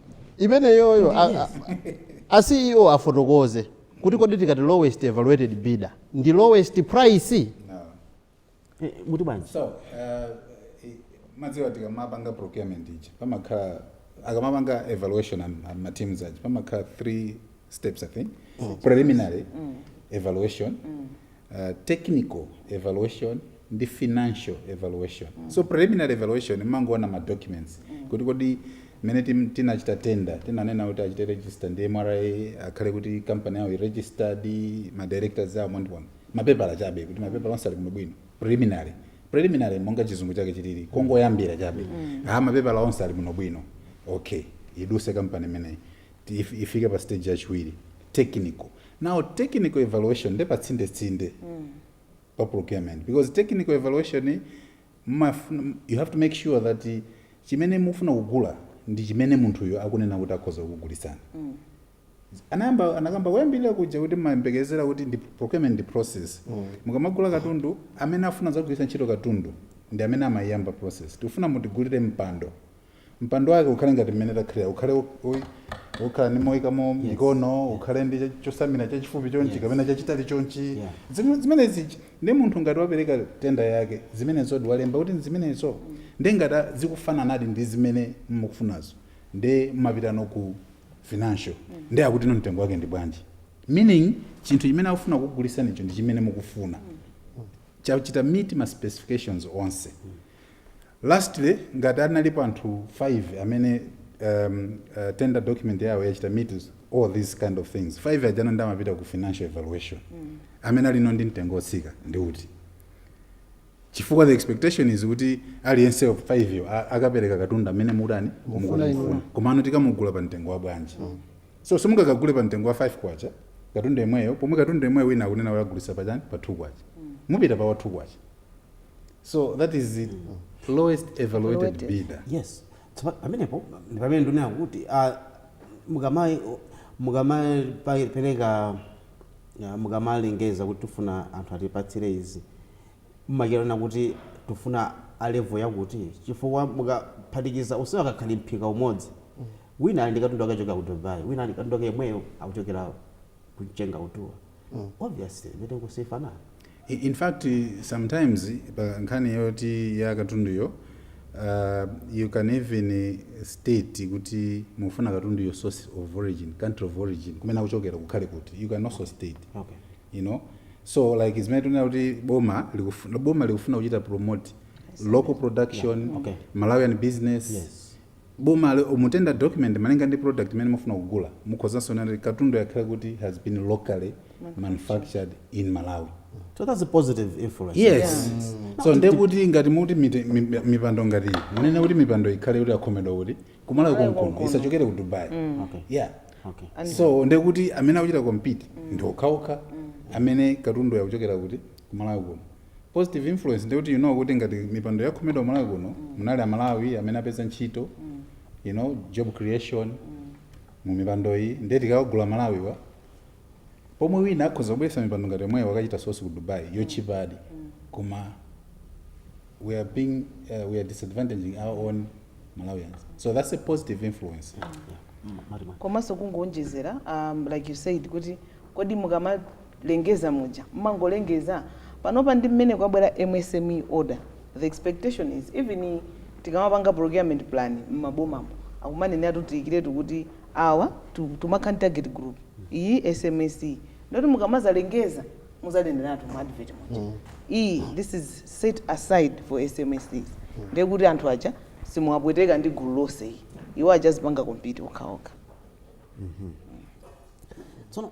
imeneyoyo a, a, a ceo afotokoze kuti kodi tikati lowest evaluated bidder ndi lowest price No. Eh, muti bwanji so uh, i- mmadziwa tikamapanga procurement ija pamakhala akamapanga evaluation am- am- ma teams aja pamakhala three steps i think preliminary evaluation technical evaluation ndi financial evaluation so preliminary evaluation mmangoona ma documents kuti kodi mmene tim- tinachita tender tinanena kuti achite register ndi mra akhale kuti company yawo ili registered ma directors awo mwangoona mapepala chabe kuti mapepala onse ali bwinobwino preliminary preliminary monga chizungu chake chilili kongoyambira chabe ha mapepala onse ali bwinobwino okay idutse company imeneyi if- ifike pa stage yachiwiri technical now technical evaluation nde patsindetsinde pa procurement because technical evaluation mumafuna- you have to make sure that eh, chimene mufuna kugula ndi chimene munthuyo akunena kuti akhoza kukugulitsani anayamba anakamba kuyambirira kuja kuti mayembekezera kuti ndi procurement ndi process mukamagula katundu amene afuna zagwiritsa ntchito katundu ndi amene amayiyamba process tikufuna mutigulire mpando Mpando wake ukhale ngati mmene takhalira, ukhale wo- wo- wokhala ndi moikamo mikono, ukhale ndi cha- chosamira chachifupi chonchi Yes. kapena chachitali chonchi. Yeah. Zim- Zimenezi chi- ndi munthu ngati wapereka tenda yake, zimenezo ndi walemba kuti zimenezo ndi ngati a- zikufananadi ndi zimene mukufunazo, nde mapitano ku financial, ndi akuti no mtengo wake ndi bwanji. Meaning chinthu chimene akufuna kugulitsanicho ndi chimene mukufuna chachita meet ma specifications onse Lastly, ngati analipo anthu 5 amene um, uh, tender document yawo yachita meet all these kind of things 5 ajano ndi amapita ku financial evaluation mm. amene alino ndi mtengo otsika ndi uti chifukwa the expectation is kuti aliyense 5 yo a- akapereka katundu amene mutani Mufuna inu. mukufuna komano tikamugula pa mtengo wa bwanji mm. so simungakagule pa mtengo wa 5 kwacha katundu yemweyo pomwe katundu yemweyo wina akunena kuti agulitsa pa chani pa 2 kwacha mupita pa wa 2 kwacha so that is the lowest evaluated Evaluated. bidder yes so pa- pamenepo ndi pamene ndinena kuti ah, mukama- mukamapereka ah, mukamalengeza kuti tifuna anthu atipatsire izi mmakirana kuti tifuna a level yakuti chifukwa mukaphatikiza onsewa akakhala mphika umodzi wina ali ndi katundu akuchokera ku dubai wina ali ndi katundu ake yemweyo akuchokera ku mchengautuwa mm, obviously mitengo sifanana I- in fact sometimes pa nkhani yoti ya katunduyo uh, you can even state kuti mufuna katunduyo source of origin country of origin kumene akuchokera kukhale kuti you can also state okay you know so like zimene tinena kuti boma likufuna, boma likufuna kuchita promote local production Yeah, okay. malawian business Yes. boma mu tender document malinga ndi product imene mufuna kugula mukhozanso kunena kuti katundu yakhala kuti has been locally manufactured in malawi So that's a positive influence. yes so nde kuti ngati muti mite- mi- mipando ngati iyi munenetu mipando ikhale kuti akhomedwa kumalawi konkono isachokere ku dubai Okay. yeah Okay. so nde kuti amene akuchita compete ndi okhaokha amene katundu yakuchokera kuti kumalawi kuno positive influence ndekuti you know kuti ngati mipando yakhomedwa kumalawi kuno munali amalawi amene apeza ntchito you know job creation mu mipando iyi ndiye tikawagula amalawiwa pomwe wina akhoza kubweresa mipando ngati yomweyo akachita source ku dubai yotchipadi koma we are being uh, we are disadvantaging our own malawians so that's a positive influence komanso kungoonjezera um, like you said kuti kodi mukama lengeza muja mmangolengeza? Panopa ndi mmene kwabwera MSME order the expectation is even tikamapanga procurement plan mmabomamu akumanena kuti tiyikiretu kuti awa timakhala ndi target group iyi SMSE ndiyekuti mukamazalengeza muzaneneratu mu advert muja iyi this is set aside for SMSEs ndekuti anthu aja simuwapweteka ndi gulu lonse ayi iwo aja azipanga compete okhaokha. Tsono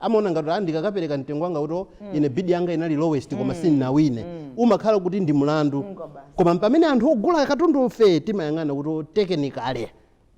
amaona ngati ah, ndikakapereka mtengo wanga kuti ine bid yanga inali lowest koma sindinawine umakhala kuti ndi mlandu koma pamene anthu ogula katundufe timayang'ana kuti technically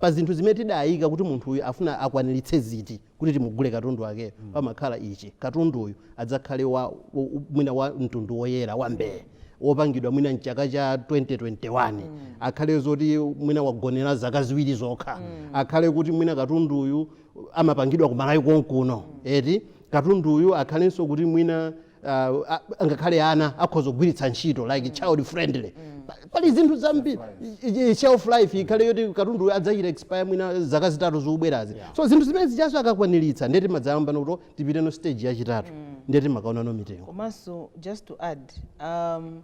pa zinthu zimene tidayika kuti munthu uyu afuna akwaniritse ziti kuti timugule katundu wakeyo pamakhala ichi katundu uyu adzakhale wa u- u- mwina wa mtundu woyera wa mbee wopangidwa mwina mchaka cha 2021 akhale zoti mwina wagonera zaka ziwiri zokha akhale kuti mwina katundu uyu amapangidwa kumalawi konkuno eti katundu uyu akhalenso kuti mwina uh, a- angakhale ana akhoza kugwiritsa ntchito like child friendly Pa- pali zinthu zambiri i- i- shelf life ikhale yoti katundu uyu adzachita expire mwina zaka zitatu zikubwerazi so zinthu zimene zijanso akakwaniritsa nde timadzayambano kuti tipiteno stage yachitatu nde timakaonano mitengo komanso just to add um,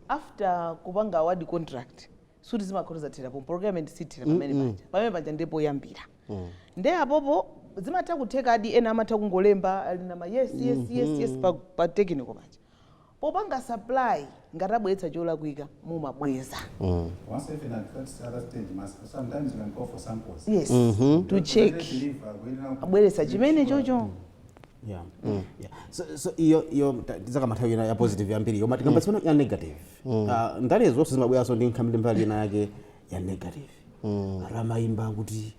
after kupanga award contract suti zimakhala kuti zathera pompo procurement sithera pamene mm -mm. paja pamene paja ndiye poyambira mm. nde apopo zimatha kuthekadi ena amatha kungolemba ali na yes yes mm -hmm. yes yes pa, pa technical paja popanga supply ngati abweretsa cholakwika mumabweza mm. yes mm -hmm. to check abweretsa chimene chocho mm. yeah. mm. yeah. so, so iyo iyo tizakamba nthawi ya positive yambiri koma tikambe mm. ya negative Ah, ndale zonse zimabweranso ndi nkhani ndi mbali ina yake ya negative ati amayimba kuti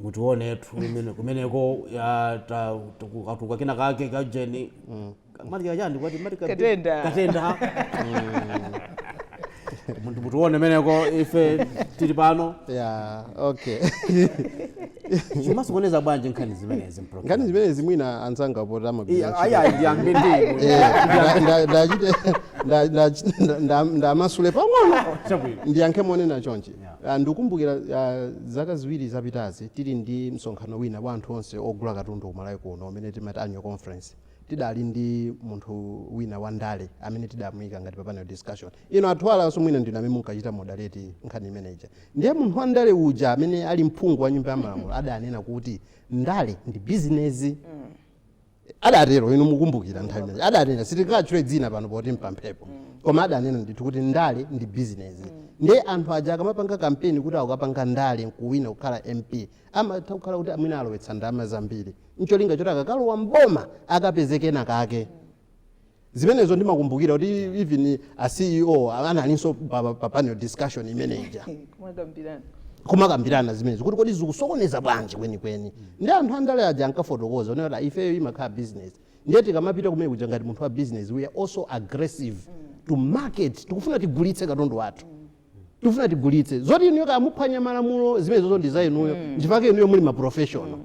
mutionetu imene kumeneko ya ta- tuku- katuka kina kake kajeni mati kachani kwati mati ka- Katenda. katenda Muti- mutione kumeneko ife tili pano yeah okay zimasokoneza bwanji nkhani zimenezi mpro nkhani zimenezi mwina anzanga poti amagwira ntchito. ayayi ndiyambe ndinu Eh, nda- nda- ndachite nda- nda- nda- nda- ndamasule pang'ono chabwino ndiyankhe monena chonchi Ah, ndikumbukira ah, zaka ziwiri zapitazi tili ndi msonkhano wina wa anthu onse ogula katundu ku Malawi kuno umene timati annual conference tidali ndi munthu wina wa ndale amene tidamuyika ngati pa panel discussion inu a Thuwala nso mwina ndinu amene munkachita moderate nkhani imeneja Ndiye munthu wa ndale uja amene ali mphungu wa nyumba ya malamulo adanena kuti ndale ndi bizinezi. Adatero, inu mukumbukira nthawi imeneyo. Adanena, sitingawatchule dzina pano poti mpamphepo. Koma adanena ndithu kuti ndale ndi bizinezi. Ndiye anthu aja akamapanga kampeni kuti akapanga ndale n'kuwina kukhala MP, amatha kukhala kuti mwina alowetsa ndalama zambiri. N'cholinga choti akakalowa m'boma akapeze kenakake. Zimenezo ndimakumbukira kuti even a CEO analinso pa, pa, pa panel discussion imene ija kumakambirana kumakambirana zimenezo kuti kodi zikusokoneza bwanji kwenikweni ndi anthu andale aja ankafotokoza onena kuti ifeyo imakhala business ndiye tikamapita kumene kuja ngati munthu wa business we are also aggressive to market tikufuna tigulitse katundu wathu tikufuna tigulitse zoti inuyo kaya muphwanya malamulo zimenezozo ndi za inuyo nchifukwa chake inuyo muli maprofessional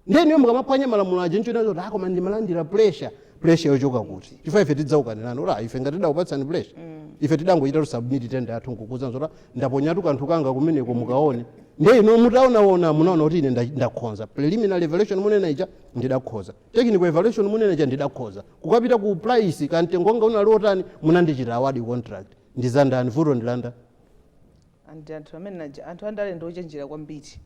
ndiye inuyo mukamaphwanya malamulo aja nkunena zoti ah koma ndimalandira pressure pressure yochoka kuti chifukwa ife tidzaukanirani ora ife ngati tidakupatsani pressure ife tidangochita submit tender yathu nkukuuzani zoti ndaponyatu kanthu kanga kumeneko mukaone ndiye inu mutaonaona munaona kuti ine nda- ndakhoza preliminary evaluation munena ija ndidakhoza technical evaluation munena ija ndidakhoza kukapita ku price kamtengo wanga unali otani munandichita award contract ndizandani vuto ndi la ndani and anthu amene aja anthu andale ndi ochenjera kwambiri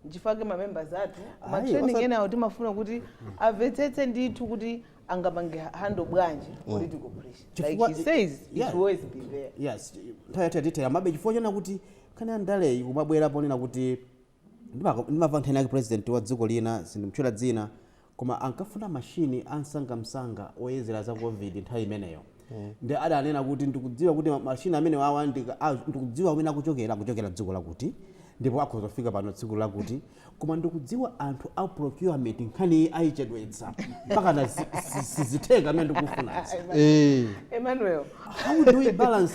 nchifukwa chake mamembers athu Ayi, matraining osati- enawo timafuna kuti amvetsetse ndithu kuti angapange handle bwanji political pressure like Chifukwa- he says it yeah. will always be there yes nthawi yathu yatithera mabe chifukwa chonena kuti kana ndaleyi kumabwera ponena kuti ndimaka- ndimamva nkhani yake president wa dziko lina sindimtchula dzina koma ankafuna machine a msangamsanga oyezera za covid nthawi imeneyo nde adanena kuti ndikudziwa kuti ma- machine amenewawa ndika- a- ndikudziwa kumene akuchokera akuchokera dziko lakuti ndipo akhoza kufika pano tsiku lakuti koma ndikudziwa anthu a procurement nkhaniyi ayichedwetsa mpaka na zi- zi- sizitheka zimene ndikufunazi Eh. emmanuel how do we balance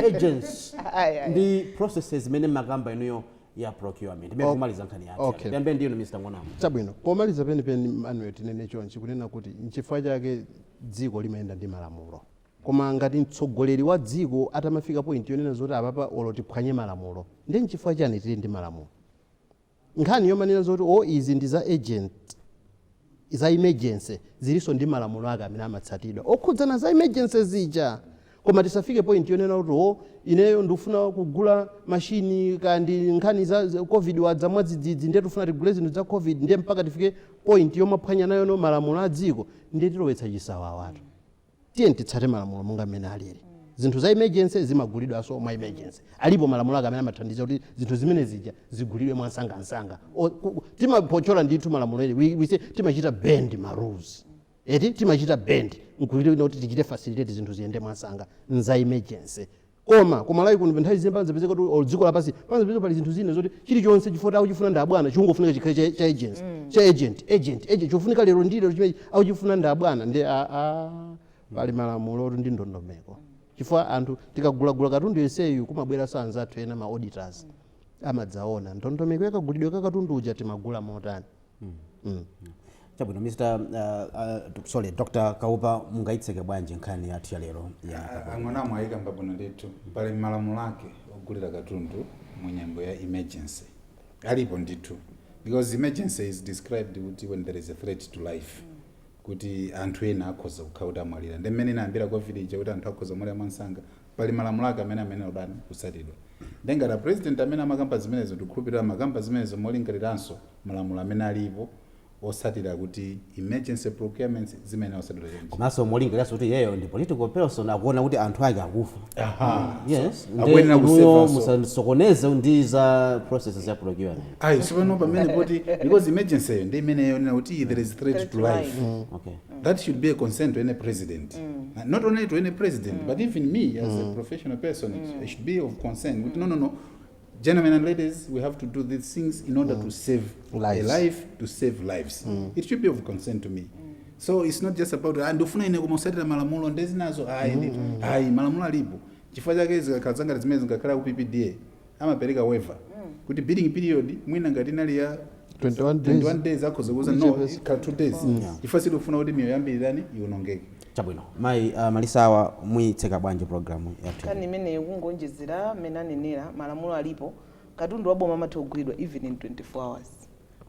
urgency Ayi, ayi. ndi processes zimene mmakamba inuyo ya procurement imene kumaliza nkhani yathu Okay. yambe ndiyeno mr ngonamu chabwino pomaliza penipeni manuel tinene chonchi kunena kuti nchifukwa chake dziko limayenda ndi malamulo koma ngati mtsogoleri wa dziko atamafika point yonena zoti apapa olo tiphwanye malamulo ndi nchifukwa chiyani tili ndi malamulo nkhani yomanena zoti o izi ndi za urgent za emergency zilinso ndi malamulo ake amene amatsatidwa okhudzana za emergency zija koma tisafike point yonena kuti o ineyo ndikufuna kugula mashini kaya ndi nkhani za za covid wadza mwadzidzidzi ndiye tikufuna tigule zinthu za covid ndiye mpaka tifike point yomaphwanya nayo malamulo a dziko ndiye tilowetsa chisawawatu tiyeni titsate malamulo monga mmene alili zinthu za emergency zimagulidwanso mwa emergency alipo malamulo ake amene amathandiza kuti zinthu zimenezija zigulidwe mwansangansanga O- ku- timaphotchola ndithu malamulo ene We- we say timachita bend ma rules eti timachita bend nkulira kuti tichite facilitate zinthu ziyende mwansanga nza emergency Koma ku Malawi kuno nthawi zina pamazapezeka kuti or dziko lapansi pamazapezeka pali zinthu zina zoti chilichonse chifukwa kuti akuchifuna ndi abwana chikungofunika chikhale cha, cha urgency cha urgent urgent urgent chofunika lero ndi lero chimene akuchifuna ndi abwana ndi a, a, pali malamulo otu ndi ndondomeko chifukwa anthu tikagulagula katundu yenseyu kumabweranso anzathu ena ma auditors amadzaona ndondomeko yakagulidwe ka katundu uja timagula motani mm. Mm. chabwino mr uh, uh, sorry dr kaupa mungayitseke bwanji nkhani yathu ya lero a Ngonamu ayika mwabwino ndithu pali malamulo ake ogulira katundu mu nyengo ya emergency alipo ndithu because emergency is described kuti when there is a threat to life kuti anthu ena akhoza kukhala kuti amwalira ndi mmene inayambira covid ija kuti anthu akhoza kumwalira mwansanga pali malamulo ake amene amene oyenera kutsatidwa nde ngati a president amene amakamba zimenezo ndikukhulupirira amakamba zimenezo molingaliranso malamulo amene alipo otsatira kuti emergency procurements zimayenera kutsatidwa chonchi. komanso molingaliranso kuti iyeyo ndi political person akuona kuti anthu ake akufa Aha. yes nde akuyenera inuyo kusevanso koma musasokoneze ndi za processes ya procurement ayi sipano pamene poti because emergency yo ndi imene yonena kuti there is threat to life okay that should be a concern to any president Uh, not only to any president but even me as a professional person i should be of concern kuti no no no Gentlemen and ladies, we have to do these things in order mm. to save lives. a life, to save lives. Mm. It should be of concern to me. So it's not just about ah, ndifuna ine kumatsatira malamulo nde zinazo ayi mm, mm. ayi malamulo alipo chifukwa chake zikakhala za ngati zimene zingakhala ku PPDA amapereka waiver mm. kuti bidding period mwina ngati inali ya 21 days akhoza kuuza no ikhala 2 days mm. chifukwa sitikufuna kuti miyoyo yambiri itani ionongeke Chabwino mayi Malisa awa muyitseka bwanji program yathu Nkhani imeneyi? imeneyo kungoonjezera mmene anenera, malamulo alipo, katundu wa boma amatha kugulidwa even in 24 hours.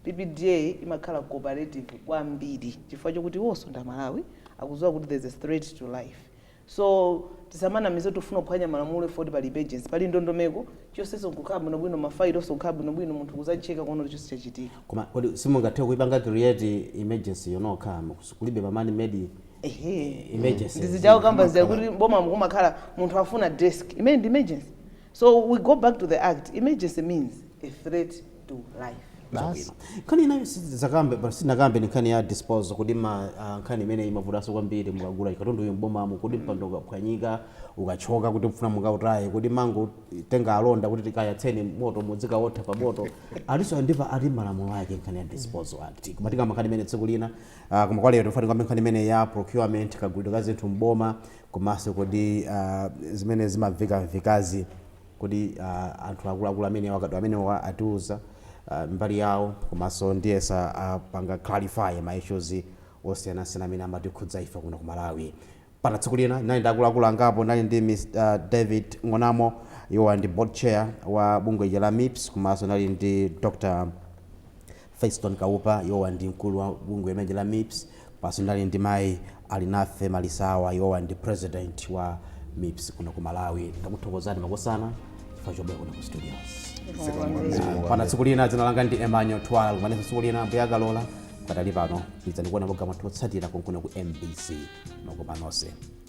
PPDA imakhala cooperative kwambiri chifukwa chokuti iwonso ndi aMalawi, akudziwa kuti there's a threat to life. So tisamanamize kuti tifuna kuphwanya malamulo chifukwa kuti pali emergency, pali ndondomeko chonsecho kukhala bwinobwino, ma file onse kukhala bwinobwino, munthu kudzachecka kuona kuti chonse chachitika. Koma kodi simungathe kuipanga create emergency yo nokha? Kulibe pa man made Ehe. emergencies. Ndi zija akukamba zija Amakhala- kuti m'bomamu kumakhala munthu afuna desk. Imeneyi ndi emergency. So we go back to the act. Emergency means a threat to life. basi nkhani inayo sitidzakambe but sinakambe ni nkhani ya disposal kodi ma ah, nkhani imene imavutaso kwambiri mukagula katundu uyu mbomamo kodi mpando ukaphwanyika ukachoka kuti mfuna mukautaye kodi mumangotenga alonda kuti tikayatseni moto mudzikawotha pa moto alinso ndi pali malamulo ake nkhani ya disposal act koma tikamba nkhani imeneyi tsiku lina ah, koma kwa lero timafuna tikambe nkhani imeneyi ya procurement kagulidwe ka zinthu mboma komanso kodi ah, zimene zimamvekamvekazi Kodi anthu akuluakulu amenewa akadaulo amenewa atiuza mbali yawo komanso ndiyesa apanga clarify ma issues osiyanasiyana amene amatikhudza ife kuno ku Malawi. Mpaka tsiku lina ndinali ndi akuluakulu angapo ndinali ndi Mr David Ng'onamo iwowa ndi board chair wa bungwe lija la mips komanso ndinali ndi Dr Feston Kaupa iwowa ndi mkulu wa bungwe limeneli la mips komanso ndinali ndi mayi Alinafe Malisawa iwowa ndi president wa mips kuno ku Malawi ndakuthokozani makosana chifukwa chobwera kuno ku studios Zikomo kwambiri. Zikomo kwambiri. mpaka tsiku lina dzina langa ndi Emmanuel Twala tikumanenso tsiku lina Ambuye akalola pakadali pano pitirizani kuona maprogramu athu otsatira konkuno ku MBC makoma nonse